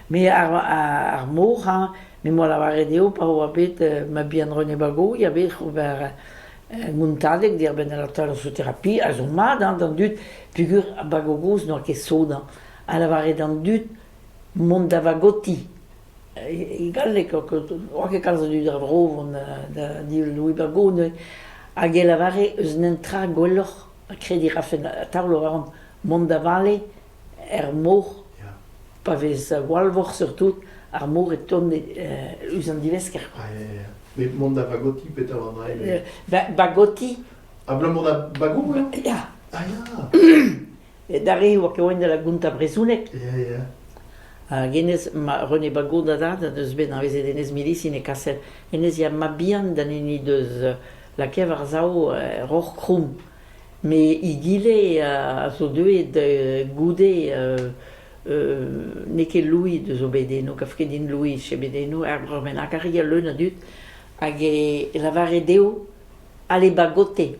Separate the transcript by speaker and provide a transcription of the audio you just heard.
Speaker 1: Me ar ar mor hañ, me 'moa lavaret eo pa oa bet mabien René Bagoy a vec'h ober montadeg dibenn al atalsoterapie a zo mat hañ d'an dud peogwir ar bagogoz n'oa ket sot hañ, ha lavaret d'an dud mont da vagoti, e galleg oa ket kalz a dud er vro vont da Louis Bago neuze, hag e lavare eus netra gwelloc'h. krediñ 'rafen a-taol a ran mont da vale er mor pa vez walvor surtout ar mor e tont ouzh an divesker quoi. Met mont
Speaker 2: da bagoti petra an ail? Bagoti.
Speaker 1: Abalamour
Speaker 2: da bagoù eo? Ya. Ah ya. D'ar re oa ket
Speaker 1: da la Gunta brezhonek. Ya
Speaker 2: ya. Hag hennezh, ma
Speaker 1: René Bagot da dad, deus bet anavezet hennezh milisin e kaset. Hennezh ya mab-bihan d'an hini deus lakaet war-sav roc'h kroumm. Met egile a zo deuet goude n'eo ket Louis deus o bed eno, kav ket din Louis eo bet eno, er breur bennak, a ria leun a dud, hag e lavare dezho, allez bagoter.